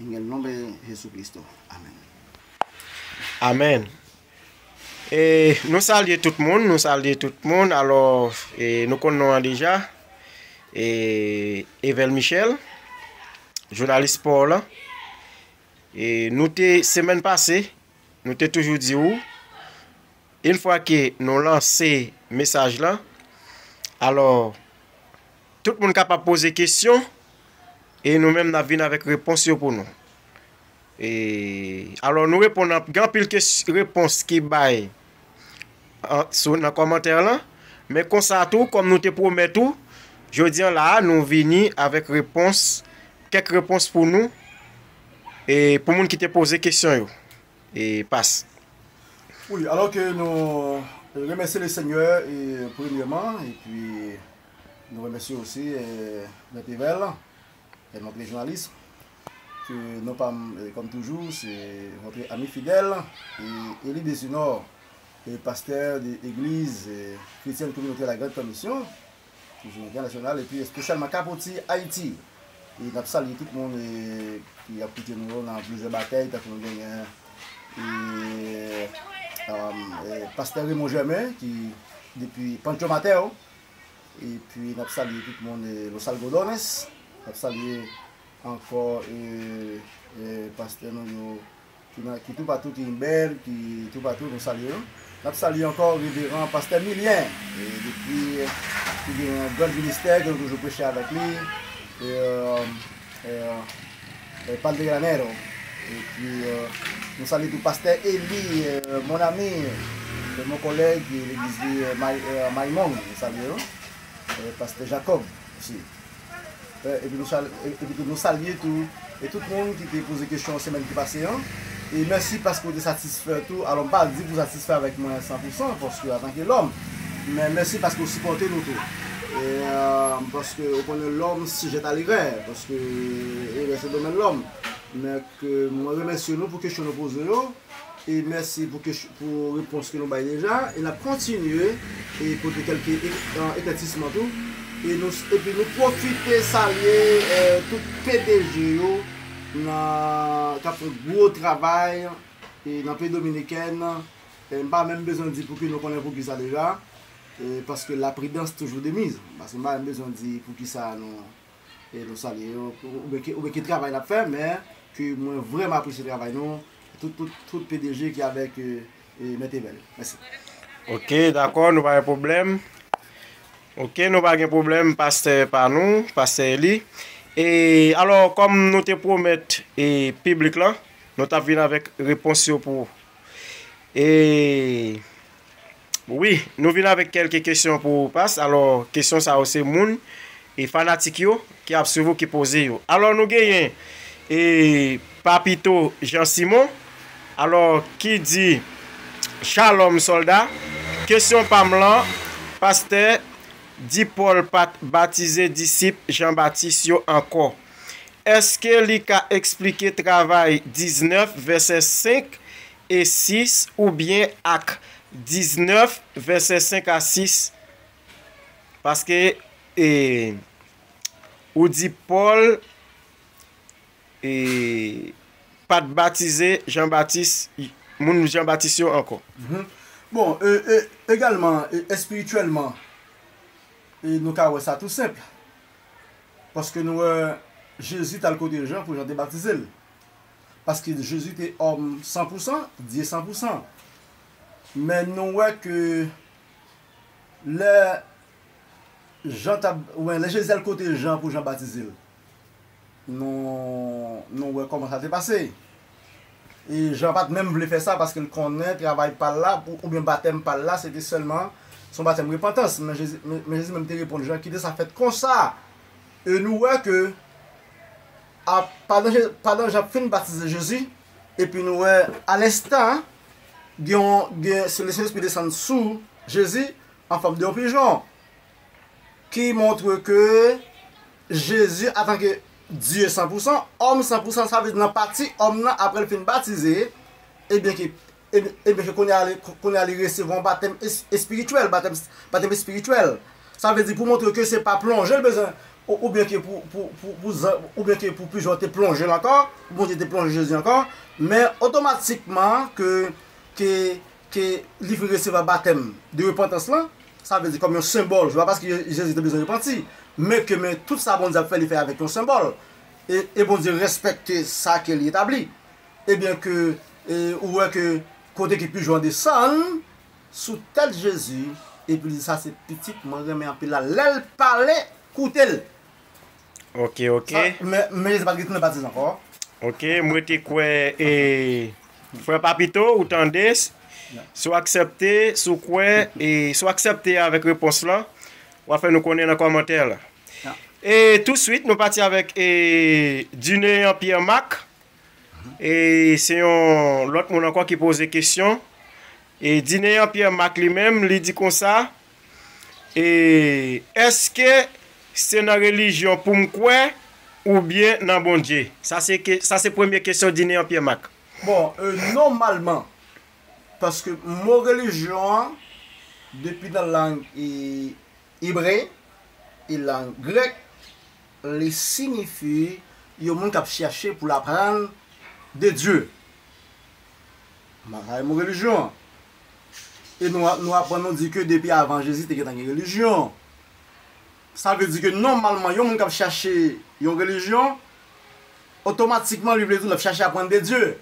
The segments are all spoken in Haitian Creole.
Ingen non ben Jesús Cristo. Amen. Amen e nou salye tout moun nou salye tout moun alò e nou konn non an deja e Evel Michel jounalis spò lan e nou te semèn pase nou te toujou di ou in fwa ke nou lanse mesaj lan alò Tout moun kapab poze kesyon e nou menm nap vin avèk repons yo pou nou. E alò nou reponn anpil gen anpil repons ki bay sou nan kòmantè lan, men konsa tou kòm nou te pwomèt ou jodi an la nou vini avèk repons kèk repons pou nou e pou moun ki te poze kesyon yo e pas. Wi alò ke nou remèsye le senyè premyèman epi. Nou remèsye osi Mèt Evel et notre journaliste ke non pa m kòm toujou se votre ami fidèle et Elie Desunor et pasteur de Église Chrétienne Communautaire La Grande Commission toujou entènasyonal epi espesyalman Capoti Haïti e n ap salye tout moun ki ap koute nou yo nan plizyè batey tankou nou genyen e Pastè Raymond Germain ki depi Pancho Mater. epi nap salye tout moun los algodones nap salye ankò pastè nou yo ki tou patou ki imbèl ki tou patou nou salye yo nap salye ankò reveran pastè milyen depi ki gen yon gran ministè ke nou toujou preche avèk li El Padre Granero epi nou salye tou Pastè Eli mon ami e mon collègue e legliz li Maimong nou salye yo e Pastè Jacob osi epi tou nou salye tou e tout moun ki te poze kesyon semèn ki pase an. E mèsi paske ou te satisfè tou. Alò m pa di pou w satisfè avèk mwen san pou san, paske antanke lòm. Men mèsi paske ou sipòte nou tou. E paske ou konnen lòm sijèt a lerè, paske erè se domèn lòm. Men ke mwen remèsye nou pou kesyon nou poze yo. E mèsi pou kesyon, pou repons ke nou bay deja. E n ap kontinye e pote kèlke eklètisman tou. E nou, epi nou pwofite salye tout pdg yo. nan kap fè gwo travay nan peyi dominikèn m pa menm bezwen di pouki nou konnen pouki sa deja paske la pridans toujou de miz paske m pa menm bezwen di pouki sa nou salye yo oubyen ki travay nap fè men ke mwen vrèman apresye travay nou tout pdg ki avèk e mete men li. Mèsi. Ok dakò nou pa gen pwoblèm ok nou pa gen pwoblèm pastè pa nou pastè Eli e alò kòm nou te pwomèt e piblik lan nou tap vin avèk repons yo pou e wi nou vin avèk kèlke kesyon pou past alò kesyon sa yo se moun E fanatik yo ki ap swiv ou ki poze yo. Alò nou genyen e Papito Jean Simon. Alò ki di Shalom solda. Kesyon pa m lan, Pastè di Pòl pa t batize disip Jan Batis yo ankò. Èske li ka esplike travay 19 vèsè 5 e 6 oubyen Ak 19 vèsè 5 a 6 Paske e ou di Pòl e pa t batize Jan Batis, moun Jan Batis yo ankò. Bon, e egalman, espirityèlman, e nou ka wè sa tou senp. Paske nou wè Jezi t al kote Jan pou Jan te batize l. Paske Jezi te òm san pou san, Dye san pou san. Men nou wè ke Lè Jan t ap, oubyen lè Jezi t al kote Jan pou Jan batize l, nou nou wè kòman sa te pase. E Jan pa t menm vle fè sa paske l konnen travay pa l la oubyen batèm pa l la se te sèlman se yon batèm repantans. Men Jezi men Jezi menm te reponn Jan kite sa fèt konsa. E nou wè ke a pandan Je pandan Jan fin batize Jezi epi nou wè alenstan gen yon gen se le Sentespri desann sou Jezi an fòm de yon pijon ki montre ke Jezi antanke Dye san pou san, òm san pou san sa vle di nan pati òm nan apre l fin batize ebyen ke ebyen ke kounye a li kounye a li resevwa yon batèm espirityèl batèm espirityèl sa vle di pou montre ke se pa plonje l bezwen Oubyen ke oubyen ke pou pijon te plonje'l ankò, pou Bondye te plonje Jezi ankò, men otomatikman ke ke ke li vin resevwa batèm de repantans lan, sa vle di kòm yon senbòl, se pa paske Jezi te bezwen repanti, men ke men tout sa Bondye ap fè li fè avèk yon senbòl, e e Bondye respekte sa ke li etabli, ebyen ke ou wè ke kote ke pijon an desann, sou tèt jezi epi li di sa se pitit mwen renmen anpil la lèl pale koutel Ok ok. Men men jezi pat gen tounen batize ankò. Ok m rete kwè e frè papito ou tande si w aksèpte si w kwè e si w aksèpte avèk repons lan wap fè nou konnen nan kòmantè la e touswit nou pati avèk e Dineyan Pierre Marc E se yon lòt moun ankò ki poze kesyon. E Dineyan Pyè Mak li menm, li di konsa, E èske se nan relijyon pou m kwè oubyen nan Bondye? Sa se ke, sa se premye kesyon Dineyan Pyè Mak. Bon, e nòmalman, paske mo relijyon an, depi nan lang e Ebre, e lang grèk, li sinifi yon moun k ap chèche pou l aprann de Dye. Bagay mo relijyon an. E nou aprann nou di ke depi avan Jezi te gentan gen relijyon. Sa vle di ke nòmalman yon moun k ap chèche yon relijyon, otomatikman li vle di l ap chèche aprann de Dye.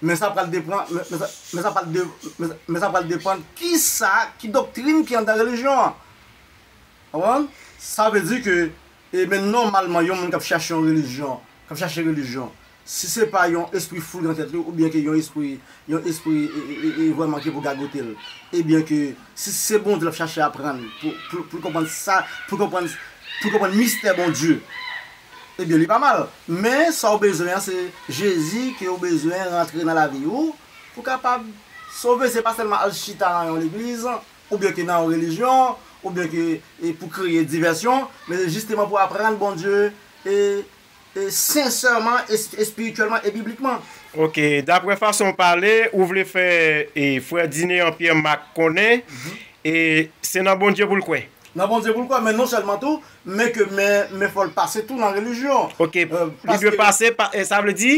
Men sa pral depran, men sa pral de, men sa pral depann ki sa, ki doktrin ki anndan relijyon an. Ou konprann? Sa vle di ke, e men nòmalman yon moun k ap chache yon relijyon, k ap chache relijyon, si se pa yon espri fou nan tèt li oubyen ke yon espri, yon espri e vrèman ki pou gagote l, ebyen ke si se Bondye l ap chache aprann pou l konprann sa, pou l konprann, pou l konprann mistè Bondye, Ebyen li pa mal, men sa ou bezwen an se Jezi ke ou bezwen rantre nan lavi ou pou kapab sove se pa sèlman al chita nan yon legliz oubyen ke nan yon relijyon oubyen ke pou kreye divèsyon men se jisteman pou aprann Bondye e e sensèman e espirityèlman e biblikman. Ok, daprè fason ou pale ou vle fè e frè Dinéan Pierre Marc konnen e se nan Bondye pou l kwè? Nan Bondye pou l kwè men non sèlman tou Men ke men, men fòl pase tou nan relijyon. Ok, li dwe pase, sa vle di,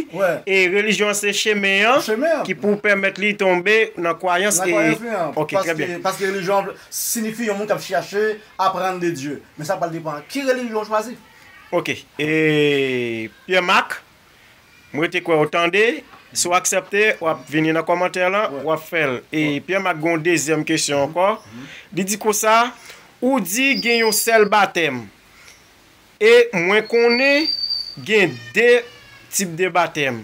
e relijyon an se chemen an ki pou pèmèt li tonbe nan kwayans e, ok, trè byen. Paske relijyon an sinifi yon moun kap chache aprann de Dye. Men sa pral depan ki relijyon ou chwazi. Ok, e Pyè Mak, M rete kwè ou tande. Si w aksepte, w ap vini nan kòmantè lan, w ap fè l. E Pyè Mak gen yon dezyèm kesyon ankò. Li di konsa, Ou di gen yon sèl batèm. E mwen konnen gen de tip de batèm.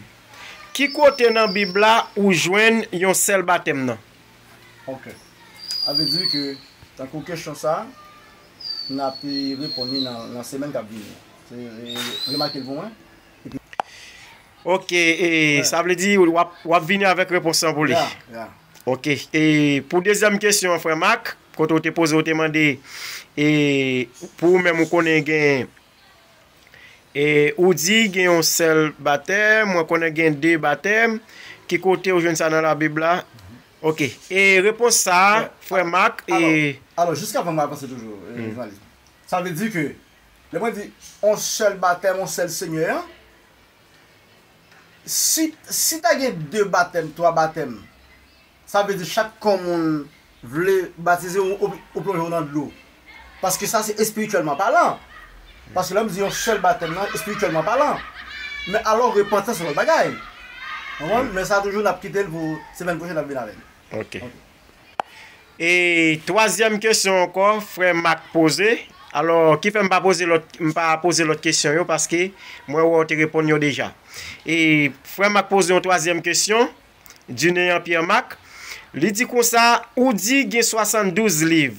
Ki kote nan Bib la ou jwenn yon sèl batèm nan? Ok. A vle di ke tankou kesyon sa a, n ape reponn li nan semèn k ap vini. Remake l pou mwen. Ok e sa vle di wap vini avèk repons lan pou li? Ya. Ok e pou dezyèm kesyon an frè Mak, kote ou te poze ou te mande e pou ou menm ou konnen gen e ou di gen yon sèl batè, mwen konnen gen 2 batè, ki kote ou jwenn sa nan labib la? Ok e repons sa frè Mak e. Alò jiskavan mwen avanse toujou Journaliste. Sa vle di ke. Lè mwen di on sèl batèm, on sèl Senyè an, si si ta gen 2 batèm, 3 batèm, sa vle di chak kò moun vle batize ou ou plonje ou nan dlo. Paske sa se espirityèlman palan. Paske lè m di yon sèl batèm nan, espirityèlman palan. Men alò repantans se lòt bagay. Ou konprann? Men sa toujou n ap kite l pou semèn pwochèn n ap vin avè l. Ok. E twazyèm kesyon ankò frè Mak poze, alò ki fè m pa poze lòt, m pa poze lòt kesyon yo paske mwen wè w te reponn yo deja. E frè Mak poze yon twazyèm kesyon, Dunéant Pierre Marc, li di konsa, ou di gen 72 liv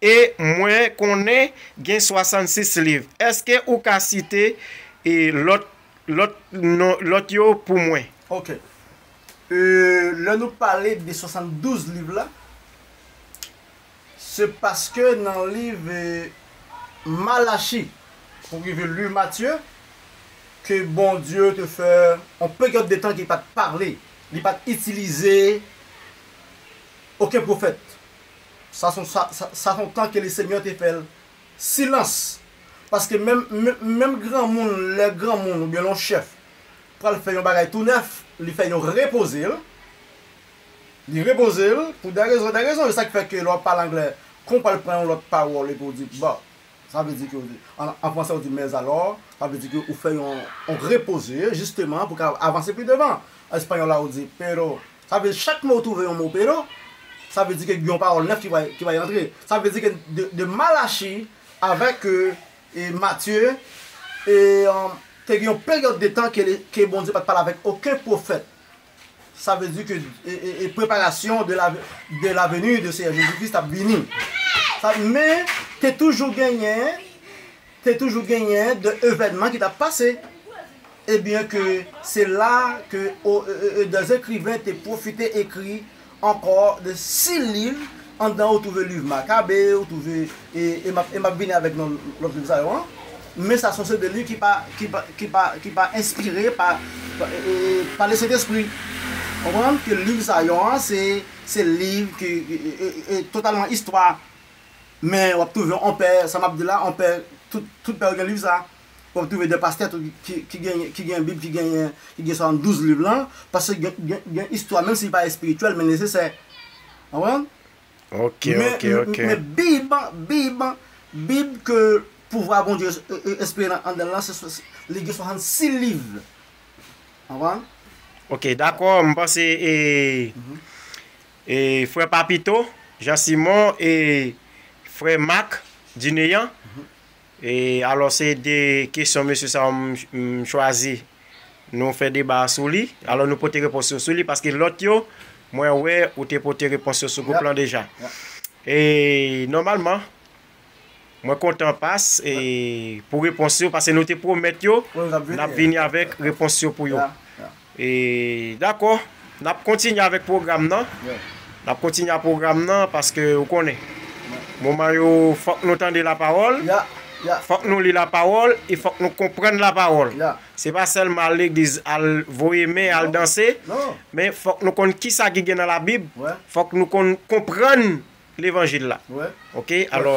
e mwen konnen gen 66 liv, èske ou ka site lòt, lòt non, lòt yo pou mwen? Ok. Lè nou pale de 72 liv la, se paske nan liv Malachi pou rive liv Matye ke Bondye te fè yon peryòd de tan ke li pa t pale, li pa t itilize oken pwofèt. Sa se yon tan ke Lesenyè te fè silans. Paske menm granmoun, lè granmoun oubyen lè yon chèf Pral fè yon bagay tou nèf li fè yon repoze l li repoze l pou dè rezon dè rezon yo sa ki fè ke lè w ap pale anglè kon w pral pran yon lòt pawòl epi w di but sa vle di ke an fransè ou di mais alors sa vle di ke ou fè yon repoze jisteman pou w ka avanse pi devan an espayòl la ou di pero sa vle di chak mo ou twouve yon mo pero sa vle di ke gen yon pawòl nèf ki pral antre sa vle di ke de mal achi avèk E Matye, E te gen yon peryòd de tan ke ke Bondye pat pale avèk oken pwofèt. Sa vle di ke e preparasyon de la de la veni de Seyè Jezi Kris tap vini. Sa men te toujou genyen te toujou genyen de evènman ki tap pase. Ebyen ke se la ke Oeedans ekriven te pwofite ekri ankò de si liv anndan ou twouve liv Makabe, ou twouve e m ap vini avèk non lòt liv sa yo an, men sa son se de liv ki pa ki pa ki pa ki pa enspire pa pa le Sentespri. Konprann ke liv sa yo an se se liv ke e totalman istwa, men w ap twouve on pè, sa m ap di la on pè tout tout pè yo gen liv sa. wap trouve 2 pastè tou ki genyen ki genyen bib ki genyen ki gen 72 liv lan paske gen gen gen istwa menm si li pa espirityèl men nesesè ou konprann Ok ok ok. men bib bib bib ke pouvwa Bondye espire nan andanl lan se se li gen 66 liv ou konprann. Ok dakò m panse e e frè papito Jean Simon e frè Marc Dineyan E alò se 2 kesyon mesye sa yo m m chwazi nou fè deba a sou li, alò nou pote repons yo sou li paske lòt yo mwen wè ou te pote repons yo sou gwoup lan deja. E nòmalman mwen kontan pas e pou repons yo pase nou te pwomèt yo n ap vini avèk repons yo pou yo. Dakò, n ap kontinye avèk pwogram nan. N ap kontinye ak pwogram nan paske ou konnen, moman yo fòk nou tande lapawòl, fòk nou li lapawòl e fòk nou konprann lapawòl. Se pa sèlman al legliz, al voye men, al danse, men fòk nou konn kisa ki gen nan Labib, fòk nou konn konprann Levanjil la. Ok, alò,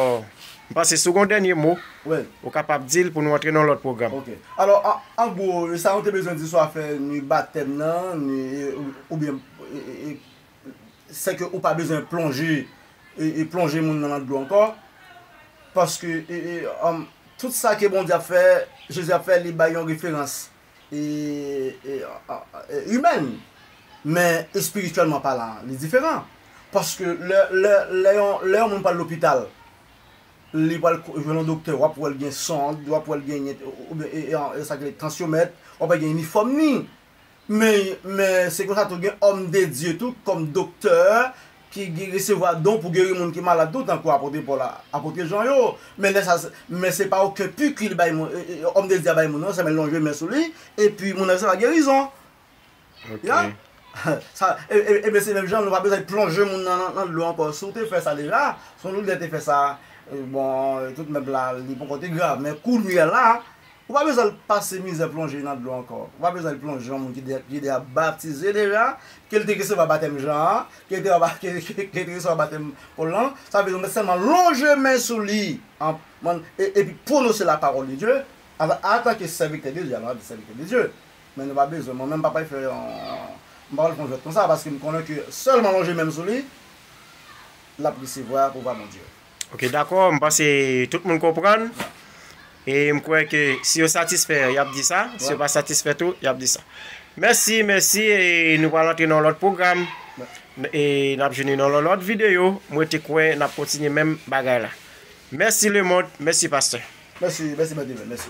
m panse si w gen yon dènye mo, ou kapab di l pou nou antre nan yon lòt pwogram. Ok. Alò, an gwo, sa nou te bezwen di sou afè ni batèm nan, ni, oubyen, sèke ou pa bezwen plonje, plonje moun nan nan dlo ankò, paske, tout sa ke Bondye ap fè, Jezi ap fè, li bay yon referans. imèn, men espirityèlman palan li diferan. Paske lè yon moun pral lopital, li pral jwenn yon doktè, w ap wè l gen sond, w ap wè l gen tansyomèt, w ap wè l gen inifòm ni. Men se konsa tou gen òmdedye tou kòm doktè ki gen resevwa don pou geri moun ki malad tou tankou Apotre Pòl ak Apotre Jan yo, men lè sa men se pa oken piki li bay moun Òm de Dye a bay moun non, sèlman l lonje men sou li epi moun nan resevwa gerizon. Ok. Ya sa e ben se menm jan nou pa bezwen plonje moun nan nan dlo ankò si w te fè sa deja si yon lòt lè te fè sa bon tout mèt la li ponkò te grav men kounye a la Ou pa bezwen al pase mizè plonje nan dlo ankò. Ou pa bezwen al plonje yon moun ki deja batize deja, ke l te resevwa batèm Jan an, ke l te resevwa batèm Pòl lan. Sa vle di ou mèt sèlman lonje men sou li epi pwonose lapawòl de Dye antanke sèvitè de Dye. Alò n ap di sèvitè de Dye. Men nou pa bezwen, mwen menm m pa pral fè yon, m pa pral fè yon jwèt konsa paske m konnen ke sèlman lonje men m sou li, l ap resevwa pouvwa Bondye. Ok dakò m panse tout moun konprann e m kwè ke si yo satisfè yap di sa si yo pa satisfè tou yap di sa mèsi mèsi e nou pral antre nan yon lòt pwogram e nap jwenn nou nan yon lòt videyo m rete kwè nap kontinye menm bagay la mèsi lemond mèsi pastè. Mèsi mèsi mèt Evel mèsi.